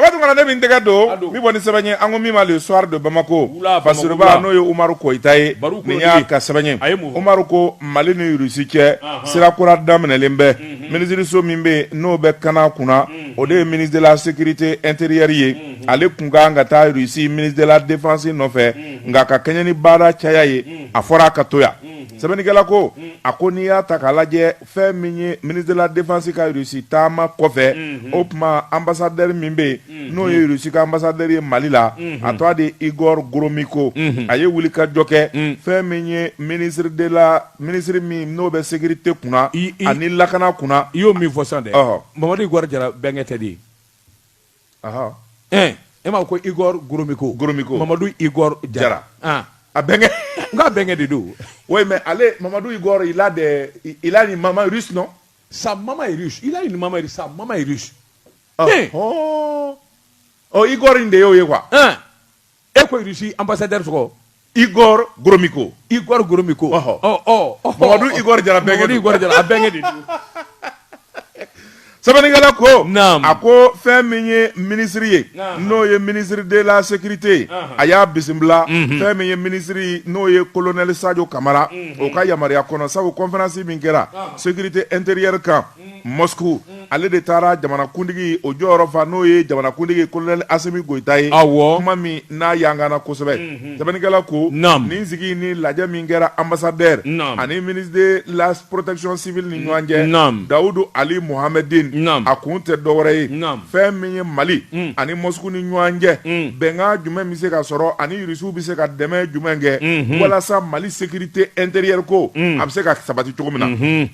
Dabatu kana ne min tɛgɛ don min bɔ ni sɛbɛn ye an ko min ma le soir de Bamako Basiruba n'o ye Umaru Koyita ye nin y'a ka sɛbɛn ye Umaru ko Mali ni Russie cɛ sira kura daminɛlen bɛ minisiriso min bɛ yen n'o bɛ kana kunna o de ye ministre de la sécurité intérieure ye ale tun ka kan ka taa Russie ministre de la défense nɔfɛ nka ka kɛɲɛ ni baara caya ye a fɔra a ka to yan sɛbɛnnikɛla ko a ko n'i y'a ta k'a lajɛ fɛn min ye ministre de la défense ka Russie taama kɔfɛ o tuma ambassadeur min bɛ yen n'o ye Russie ka ambassadeur ye Mali la a tɔgɔ de Igor Gromyko a ye wulikajɔ kɛ fɛn min ye ministre de la ministre min n'o bɛ sécurité kunna ani lakana kunna i y'o min fɔ sisan dɛ Mamadu Igor Jara bɛnkɛ tɛ de ye e m'a ko iɔri goromiko goromiko mamadu i jara a bɛnkɛ n ka bɛnkɛ de don o mɛ ale mamadu i i la i la ni mama sunɔ sa mama i la ni mama sa mama i ɔ iɔri in de y'o ye wa e ko Russie ambassadeur tɔgɔ Igor Gromyko Igor Gromyko Mamadu Igor Jara a bɛnkɛ de sɛbɛnnikɛla ko a ko fɛn min ye ministre ye n'o ye ministre de la sécurité ye a y'a bisimila fɛn min ye ministre n'o ye kolonɛli Sajɔ Kamara o ka yamaruya kɔnɔ sabu conférence min kɛra sécurité intérieure kan Moscou ale de taara jamanakuntigi o jɔyɔrɔ fa n'o ye jamanakuntigi kolonɛli Asimi Goyita ye, awɔ, kuma min n'a yangana kosɛbɛ, unhun, sɛbɛnnikɛla ko, naamu, nin sigi ni lajɛ min kɛra anbasadɛri, naamu, ani ministre de la protection civile ni ɲɔgɔn cɛ, naamu, Dawudu Ali Mohamedine, naamu, a kun tɛ dɔwɛrɛ ye, naamu, fɛn min ye Mali ani Moscou ni ɲɔgɔn cɛ, un, bɛnkan jumɛn bɛ se ka sɔrɔ ani Russiw bɛ se ka dɛmɛ jumɛn kɛ, unhun, walasa Mali sécurité intérieure ko, un, a bɛ se ka sabati cogo min na, unhun.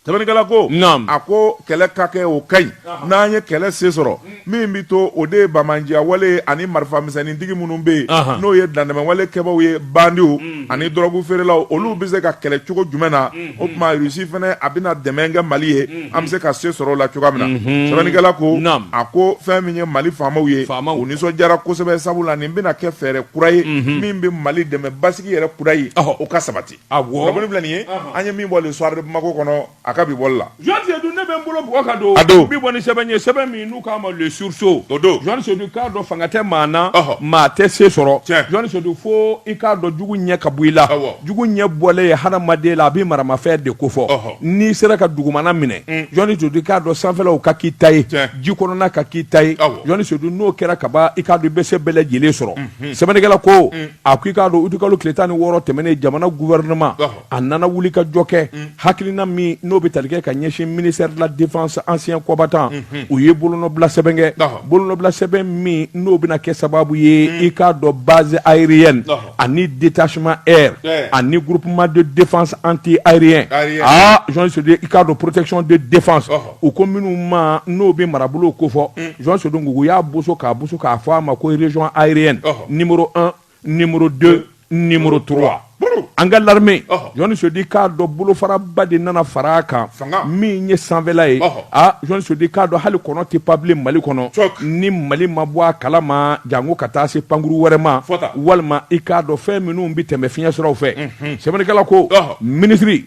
Sɛbɛnnikɛla ko a ko kɛlɛ ka kɛ o ka ɲi n'an ye kɛlɛ se sɔrɔ min bɛ to o de ye banbaanciya wale ani marifamisɛnnintigi minnu bɛ yen n'o ye dantɛmɛwale kɛbaww ye bandiw ani dɔrɔgufeerelaw olu bɛ se ka kɛlɛ cogo jumɛn na o tuma Russie fana a bɛna dɛmɛ kɛ Mali ye an bɛ se ka se sɔrɔ o la cogoya min na sɛbɛnnikɛla ko a ko fɛn min ye Mali faamaw ye u nisɔndiyara kosɛbɛ sabula nin bɛna kɛ fɛɛrɛ kura ye min bɛ Mali dɛmɛ basigi yɛrɛ kura ye o ka sabati Awɔ filɛ nin ye an ye min bɔ le soir de Bamako kɔnɔ a ka bi bɔli la Jean Seydou ne bɛ n bolo bɔ ka don a don bi bɔ ni sɛbɛn ye sɛbɛn min n'u k'a ma le sursaut o don Jean Seydou k'a dɔn fanga tɛ maa na maa tɛ se sɔrɔ Jean Seydou fo i k'a dɔn jugu ɲɛ ka bɔ i la jugu ɲɛ bɔlen ye hadamaden la a bɛ maramafɛn de ko fɔ n'i sera ka dugumana minɛ Jean Seydou k'a dɔn sanfɛlaw ka k'i ta ye ji kɔnɔna ka k'i ta ye Jean Seydou n'o kɛra ka ban i k'a dɔn i bɛ se bɛɛ lajɛlen sɔrɔ sɛbɛnnikɛla ko a ko i k'a dɔn uti kalo tile tan ni wɔɔrɔ tɛmɛnen jamana gouvernement a nana wuli ka jɔ kɛ mm. hakilina min n'o bɛ tali kɛ ka ɲɛsin ministère de la défense ancien combattant mm-hmm. u ye bolonɔbila sɛbɛn kɛ bolonɔbila sɛbɛn min n'o bɛna kɛ sababu ye mm. i k'a dɔn base aérienne ani détachement air ani groupement de défense anti aérien aa ah, Jean Sédou i k'a dɔn protection de défense u ko minnu ma n'o bɛ marabolo kofɔ Jean Sédou u y'a boso k'a boso k'a fɔ a ma ko région aérienne numéro un numéro deux numéro trois an ka l'armée Jean Sédou k'a dɔn bolofaraba de nana fara a kan min ye sanfɛla ye aa Jean Sédou k'a dɔn hali kɔnɔ tɛ pan bilen Mali kɔnɔ ni Mali ma bɔ a kala ma jango ka taa se pankuru wɛrɛ ma walima i k'a dɔn fɛn minnu bɛ tɛmɛ fiɲɛ siraw fɛ sɛbɛnnikɛla ko minisiri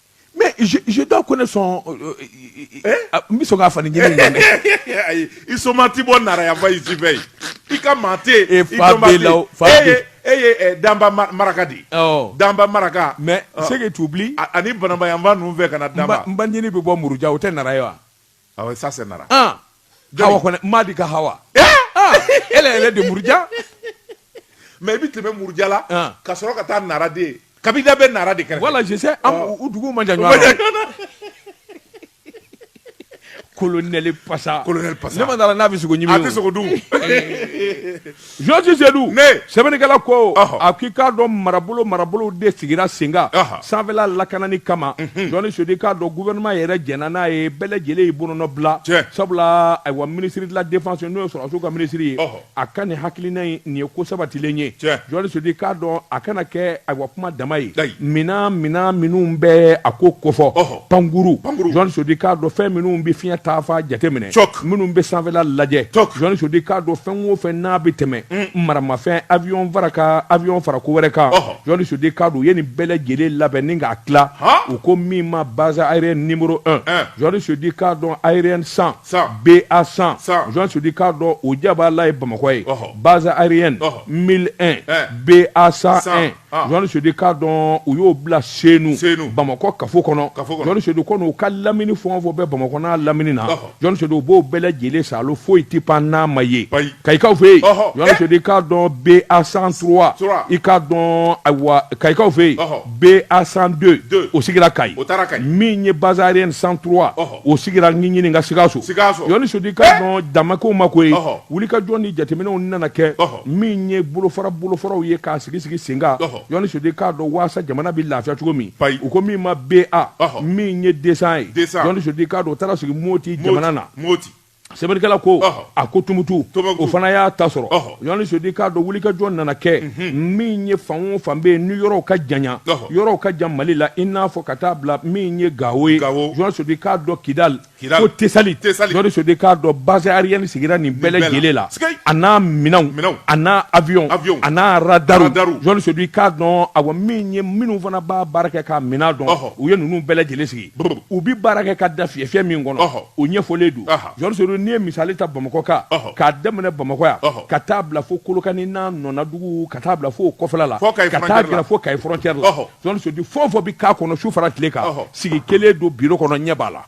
Mais je dois connaître son n bɛ sɔn k'a fa ayi i somaa tɛ bɔ Nara yanfan fɛ i ka maa e e Danba maraka di Danba maraka mais c'est que tu oublies ani Banamba yanfan ninnu fɛ ka na Danba n banin bɛ bɔ Muruja o tɛ Nara ye wa Awɔ ça c'est Nara. An! Jɔni? Hawa Kɔnɛ, Madi ka Hawa. An! Elle elle est de Muruja. Mais i bɛ tɛmɛ Muruja la, An! ka sɔrɔ ka taa Nara de. Kabida bɛ Nara de kɛrɛfɛ. Voilà, je sais, an, Ɔ. u duguw man jan ɲɔgɔn na. U man jan ɲɔgɔn na. Colonel Pasa. Colonel Pasa. Ne ma d'a la n'a bɛ sogo ɲimi o. A tɛ sogo dun o. Jean Sédou ne sɛbɛnnikɛla ko a k'i k'a dɔn marabolo marabolo de sigira sen kan sanfɛla lakanani kama Jean Sédou k'a dɔn gouvernement yɛrɛ jɛnna n'a ye bɛɛ lajɛlen y'i bolonɔ bila sabula ayiwa ministre de la défense n'o ye sɔrɔdasiw ka ministre ye a ka nin hakilina in nin ye ko sabatilen ye Jean Sédou k'a dɔn a kana kɛ ayiwa kuma dama ye minan minan minnu bɛ a ko kofɔ pankuru Jean Sédou k'a dɔn fɛn minnu bɛ fiɲɛ taafan jateminɛ minnu bɛ sanfɛla lajɛ Jean Sédou k'a dɔn fɛn o fɛn n'a bɛ tɛmɛ mm. maramafɛn avion fara ka avion fara ko wɛrɛ kan Jean Sédou k'a dɔn u ye nin bɛɛ lajɛlen labɛn ni k'a tila u ko min ma base aérienne numéro un eh. Jean Sédou k'a dɔn aérienne 100 BA 100 Jean Sédou k'a dɔn o jabala ye Bamakɔ ye base aérienne 101 eh. BA 101 Ah. Jean Sédou k'a dɔn u y'o bila Senu, Senu. Bamakɔ kafo kɔnɔ Kafo kɔnɔ. Jean Sédou ko n'u ka lamini fɛn o fɛn bɛ Bamakɔ n'a lamini na Ɔhɔ. Jean Sédou u b'o bɛɛ lajɛlen saalo foyi tɛ pan n'a ma ye Ayi. Kayikaw fɛ yen Ɔhɔ. Jean Eh. Sédou k'a dɔn BA 103 Trois. i k'a dɔn ayiwa Kayikaw fɛ yen Ɔhɔ. BA 102 Deux. o sigira Kayi O taara Kayi. min ye base aérienne 103 Ɔhɔ. o sigira Ɲiɲini ka Sikaso Jean Sédou k'a eh! dɔn damakow ma ko ye wuli ka jɔ ni jateminɛw nana kɛ min ye bolofara bolofaraw ye k'a sigi sigi sen kan Jean Sédou k'a dɔn waasa jamana bɛ lafiya cogo min u ko min ma BA min ye 200 ye Jean Sédou k'a dɔn o taara sigi Moti jamana na sɛbɛnnikɛla ko a ko tumutu o fana y'a ta sɔrɔ général sedu i k'a dɔn wulikajɔ nana kɛ mhm. min ye fan o fan bɛ yen ni yɔrɔw ka janya yɔrɔw ka jan mali la i n'a fɔ ka taa bila min ye gawo ye général sedu i k'a dɔn kidali ko tesali général sedu i k'a dɔn base aérienne sigira nin bɛɛ lajɛlen la a n'a minɛnw a n'a avion a n'a radaru général sedu i k'a dɔn awa min ye minnu fana b'a baara kɛ k'a minɛn dɔn u ye ninnu bɛɛ lajɛlen sigi u bɛ baara kɛ ka da fiyɛfiyɛ min kɔnɔ o ɲɛfɔlen don général sedu n'i ye misali ta bamakɔ kan k'a daminɛ bamakɔ yan ka taa bila fo kolokani n'a nɔnadugu ka taa bila fo o kɔfɛla la ka taa gɛrɛ fo kayi frontière la général sedu fɛn o fɛn bɛ k'a kɔnɔ su fara tile kan sigi kelen don biro kɔnɔ ɲɛ b'a la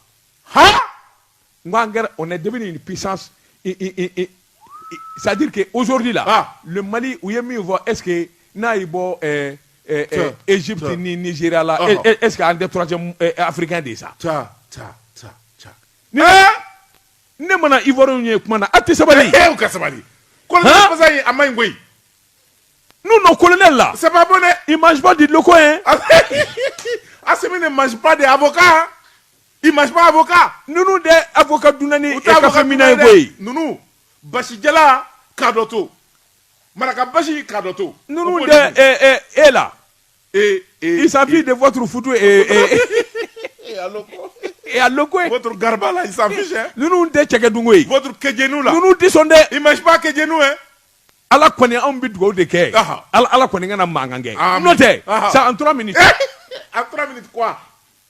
N ko an kɛra on est devenu une puissance c'est à dire que aujourd'hui là ah. le Mali u ye min fɔ est ce que n'a y'i bɔ ɛɛ ɛɛ Egypte ni Nigeria la uh -huh. est ce que an tɛ troisième africain de ye sa. ca ca ca ca. ni ne mana Ivoiriens ye kuma na a tɛ sabali. ee u ka sabali. kolonɛli masa in a ma ɲi koyi. nous nos colonels là. c'est pas bon dɛ. ils mangent pas du loko hein. Assimi ne mange pas des avocats. I ma fɔka ninnu de a fɔ ka dunani ye koyi ninnu basija ka dɔ to maraka basi ka dɔ to ninnu e la eesafi de fɔ futu e ko gariba la ninnu tɛ cɛ dugu ye kɛjw la n tɛsɔn dɛ i ma kɛj'u ye ala kɔni anw bɛ dugawu de kɛ ala ala kɔni ka na mankan kɛ n'o tɛ san an tora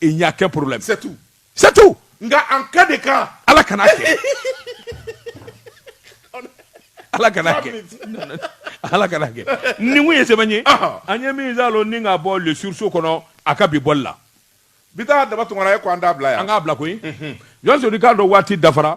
il n'y a aucun problème c'est tout c'est tout nka en cas de cas ala kana kɛ ala kana kɛ ala kana kɛ nin kun ye sɛbɛ ye an ye min zalo ni ka bɔ le sursaut kɔnɔ a ka bi bɔli la bi taa daba tungara ye ko an t'a bila yan an k'a bila koyi général sedu i k'a dɔn waati dafara